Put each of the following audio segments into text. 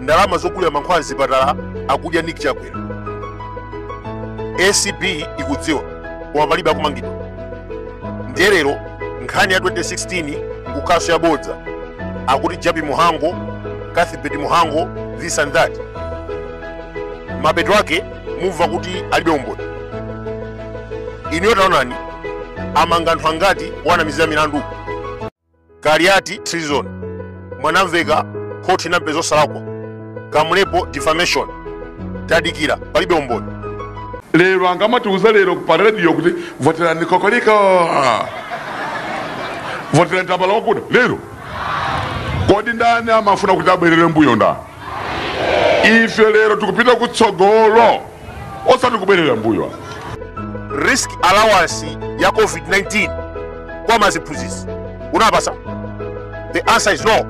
ndalama zogulira mankhwala mzipatala akudya nick chakwera acb ikudziwa koma palibe akumangidwa ndiye lero nkhani ya 2016 nkukhaso yabodza akuti Jappie Mhango Cuthbert Mhango this and that mapeto ake mumva kuti alibe umboni inuyo taonani amanga anthu angati owanamizira milandu kaliati treason mwanamveka khoti inampeza osalakwa Kamlepo defamation tadikira palibe umboni lero angamatiuza lero pa radio kuti voterani kokolika voterani tambala wokuda lero kodi ndani amafuna kuti abwerere mbuyo ndani ife lero tikupita kutsogolo osati kubwerera mbuyo risk allowance ya covid-19 kwa maziphunzitsi unapasa the answer is no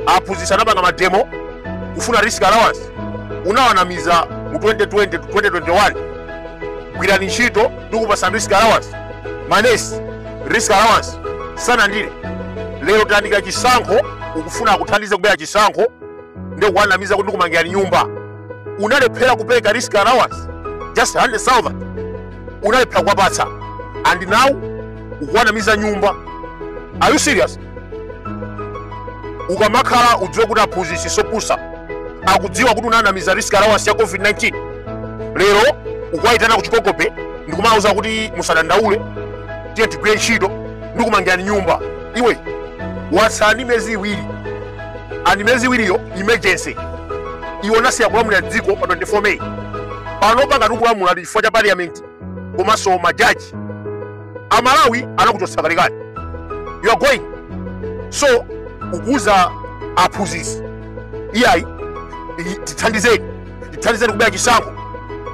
aphunzitsi anapanga mademo kufuna risk allowance unawanamiza mu 2020 to 2021 gwirani ntchito ndikupasani risk allowance manesi risk allowance sanandire lero tayandikira chisankho ukufuna akuthandize kubera chisankho ndiye ukuwanamiza kuti ndikumangirani nyumba unalephera kupereka risk allowance just 100000 unalephera kuwapatsa and now ukuwanamiza nyumba are you serious ukamakhala udziwe kuti aphunzitsi sopusa akudziwa kuti unawanamiza risk allowance ya covid-19 lero ukuwayitana ku Chikoko Bay ndikumawuza kuti musadandaule tiye tigwire ntchito ndikumangirani nyumba iwe watsala ndi miyezi iwiri and miyezi iwiriyo emergency iwe unasiya kulamulira dziko pa 24 May pano pakati ukulamula ndi chifukwa cha parliament komanso majaji amalawi anakuchotsa kalekale you are going so ukuuza aphunzitsi iyayi i- tithandizeni tithandizeni kubera chisankho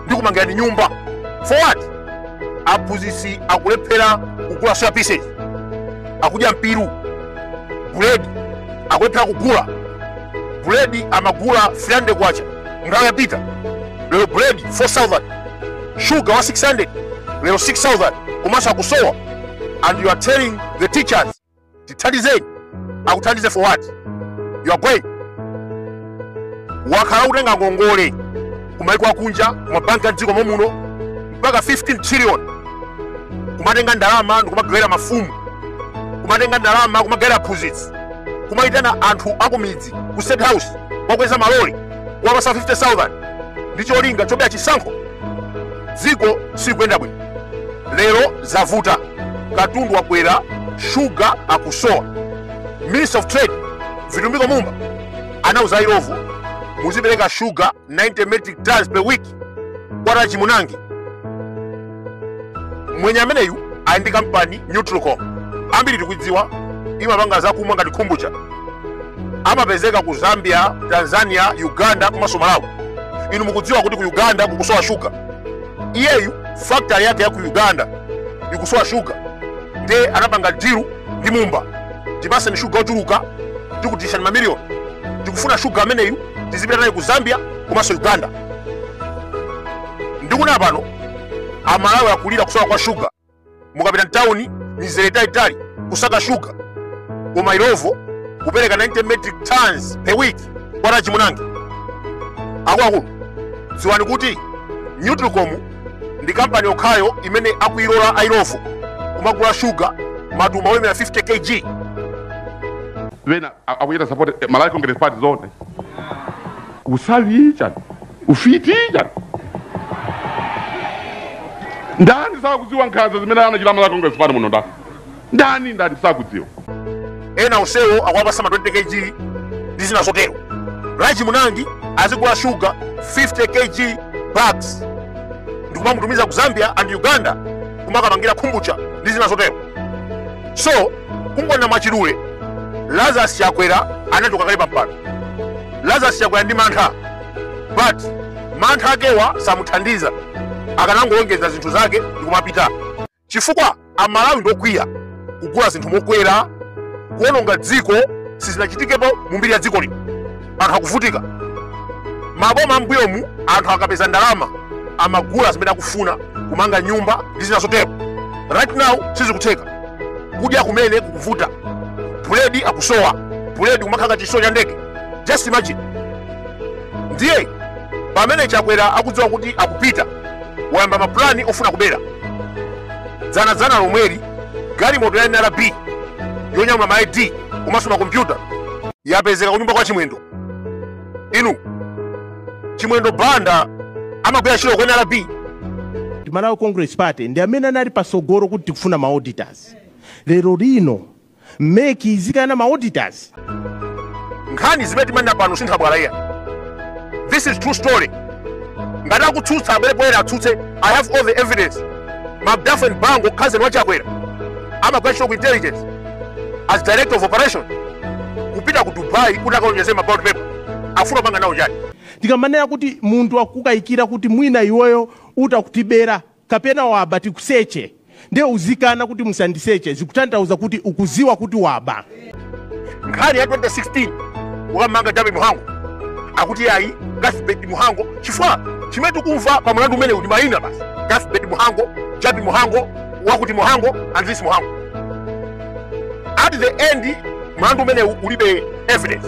ndi kumangirani nyumba for what aphunzitsi akulephera kugula soya pieces akudya mpiru buledi akulephera kugula buledi amagula 300 kwacha nthawi yapita lero buledi 4000 shuga wa 600 lero 6000 komanso akusowa and you are telling the teachers tithandizeni akuthandize for what you are going wakhala kutenga ngongole kumaiko akunja kumabanki a mdziko momuno mpaka 15 trillion kumatenga ndalama ndikumagawira mafumu kumatenga ndalama kumagawira aphunzitsi kumayitana anthu akumidzi ku state house kuwakweza malole kuwapasa 50000 ndi cholinga chobera chisankho dziko sikuyenda bwino lero zavuta katundu wakwera shuga akusowa minister of trade vitumbiko mumba anauza ilovo muzipereka shuga 90 metric tons per week kwa raji munangi mwenye ameneyu ali ndi kampani nutricom ambiri tikuidziwa imapanga zakumwa ngati kombucha amapezeka ku zambia tanzania uganda komanso malawi inu mukudziwa kuti ku uganda kukusowa shuga iyeyu factory yake ya ku uganda ikusowa shuga nde anapanga deal ndi mumba tipaseni shuga ochuluka tikutishani mamiliyoni tikufuna shuga ameneyu tizipita naye ku zambia komanso uganda ndikunena pano amalawi akulira kusowa kwa shuga mukapita mtawuni mizere italitali kusaka shuga koma ilovo kupereka 90 metric tons per week kwa raji munangi akuluakulu dziwani kuti nutricom ndi kampani yokhayo imene akuilola ailovo kumagula shuga matumba olemera 50 kg ena akuchita support eh, malawi congress party zoona usawi chani ufiti chani ndani sakudziwa nkhanza zimene anachita a malawi congress party muno nda ndani ndani sakudziwa ena onsewo akuwapasa ma 20 kg ndi zina zotero raji munangi azigula shuga 50 kg bags ndikumamutumiza ku zambia and uganda kumakapangira kombucha ndi zina zotero so kungona mwachidule lazarus chakwera anachoka kale pampando lazarus chakwera ndi mantha but mantha akewa samuthandiza akanangolongeza zinthu zake ndikumapita chifukwa amalawi ndokwiya kugula zinthu mokwera kuononga dziko sizinachitikepo mu mbiri ya dziko lino anthu akuvutika maboma ambuyomu anthu akapeza ndalama amagula zimene akufuna kumanga nyumba ndi zina zotero right now sizikutheka kudya kumene kukuvuta buledi akusowa buledi kumakhala chisowa cha ndege just imagine ndiye pamene chakwera akudziwa kuti akupita wayamba mapulani ofuna kubera dzanadzana lomweli galimoto ya nrb yonyamula ma id komanso makompyuta yapezeka kunyumba kwa chimwendo inu chimwendo banda amagwira ntchito ku nrb ndi malawi congress party ndi amene anali pasogolo kuti tikufuna ma auditors lero lino mec izikana ma auditors nkhani zimene timanena pano si nthabwala iyayi this is true story ngati akutsutsa abwere poyera atsutse i have all the evidence mabdafen bango cousin wa chakwera amagwira ntchito ku intelligence as director of operation kupita ku dubai kuti akaonjeze ma ballot paper afuna kupanga nawo chani tikamanena kuti munthu akukayikira kuti mwina iweyo utha kutibera kapena waba tikuseche ndiye uzikana kuti musandiseche zikutanthauza kuti ukuziwa kuti waba nkhani ya 2016 ukamanga jappie mhango akuti ayi cuthbert mhango chifukwa chimene tikumva pa mlandu umenewu ndi mayina basi cuthbert mhango jappie mhango wakuti mhango and this mhango at the end mlandu umenewu ulibe evidence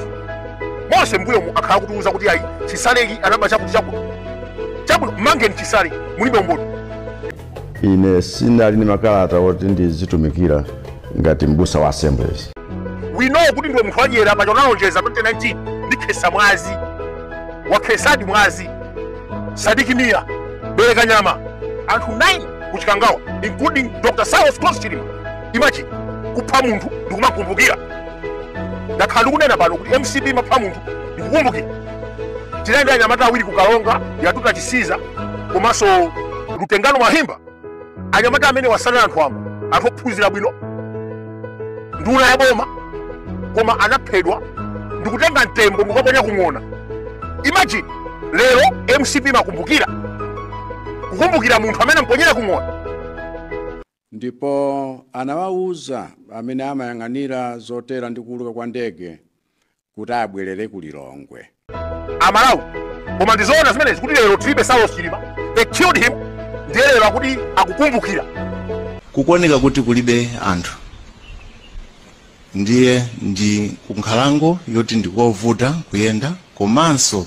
monse mbuyomu akhala kutiuza kuti ayi chisaleki anaba chakuti chakuti chakuti mangeni chisale mulibe umboni ine sinali ndi makalata oti ndizitumikira ngati mbusa wa assemblies we know kuti ndiwe munthu wadyera paja unalonjeza 2019 ndikhesa mwazi wakhesadi mwazi sidik mia belekanyama anthu 9 ku chikangawa including dr saulos klaus chilima imagine kupha munthu ndikumakumbukira ndakhala ndikunena pano kuti mcp imapha munthu ndikukumbukira tinali ndi anyamata awiri ku karonga yatuta chisiza komanso lutengano mwahimba anyamata amenewa sanali anthu wamba anthu ophunzira bwino nduna ya boma koma anaphedwa ndikutenga mtembo ndikukaponya kung'ona imagine lero mcp imakumbukira kukumbukira munthu amene amponyera kung'ona ndipo anawawuza amene amayang'anira zotera ndi kuuluka kwa ndege kuti abwerere ku Lilongwe. amalawi koma ndizoona zimenezi kuti lero tilibe saulos chilima they killed him ndiye lero akuti akukumbukira kukuoneka kuti kulibe anthu ndiye ndi kunkhalango yoti ndikovuta kuyenda komanso